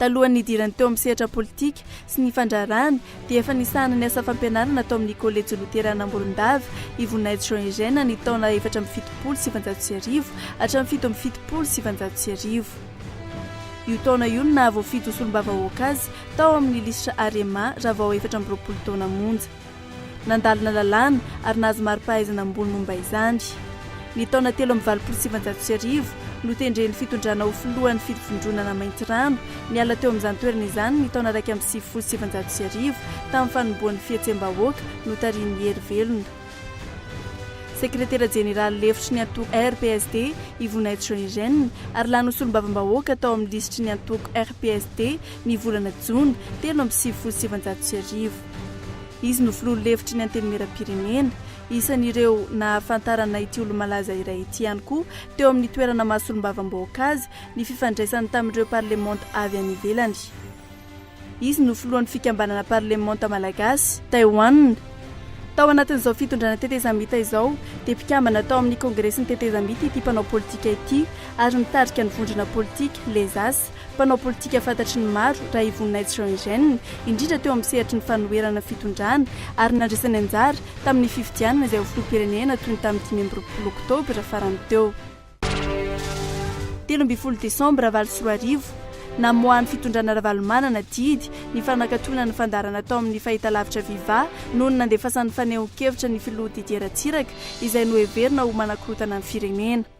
Talohan'ny nidirany teo amin'ny sehatra politika sy ny fandraharahana dia efa nisahana ny asa fampianarana tao amin'ny Kolejy Loterana Morondava i Voninahitsy Jean Eugène ny taona efatra amby fitopolo sy sivinjato sy arivo hatramin'ny fito amby fitopolo sy sivinjato sy arivo. Io taona io no nahavoafidy ho solombavambahoaka azy tao amin'ny lisitra Arema raha vao efatra amby roapolo taona monja. Nandalina lalàna ary nahazo mari-pahaizana ambony momba izany. Ny taona telo amby valopolo sy sivinjato sy arivo, notendren'ny fitondrana ho filohan'ny fivondronana Maintirano, niala teo amin'izany toerana izany ny taona iraika amby sivifolo sy sivinjato sy arivo, tamin'ny fanombohan'ny fihetsem-bahoaka notarihin'i Hery Velona. Sekretera jeneraly lefitry ny antoko RPSD i Voninahitsy Jean Eugène, ary lany ho solombavambahoaka tao amin'ny lisitry ny antoko RPSD ny volana jona telo amby sivifolo sy sivinjato sy arivo. Izy no filoha lefitry ny Antenimierampirenena. Isan'ireo nahafantarana ity olo-malaza iray ity ihany koa teo amin'ny toerana maha solombavambahoaka azy ny fifandraisany tamin'ireo parlemanta avy any ivelany. Izy no filohan'ny fikambanana parlemanta malagasy, Taiwan. Tao anatin'izao fitondrana tetezamita izao dia mpikambana tao amin'ny kongresin'ny tetezamita ity mpanao politika ity ary mitarika ny vondrona politika, Les As, Mpanao politika fantatry ny maro raha i Voninahitsy Jean Eugène, indrindra teo amin'ny sehatry ny fanoherana fitondrana, ary nandraisany anjara tamin'ny fifidianana izay ho filoham-pirenena toy ny tamin'ny dimy amby roapolo oktobra farany teo. Telo ambin'ny folo desambra valo sy roa arivo, namoahan'ny fitondrana Ravalomanana didy ny fanakatoana ny fandaharana tao amin'ny fahitalavitra Viva noho ny nandefasan'ny fanehoan-kevitra ny filoha Didier Ratsiraka izay noheverina ho manakorotana ny firenena.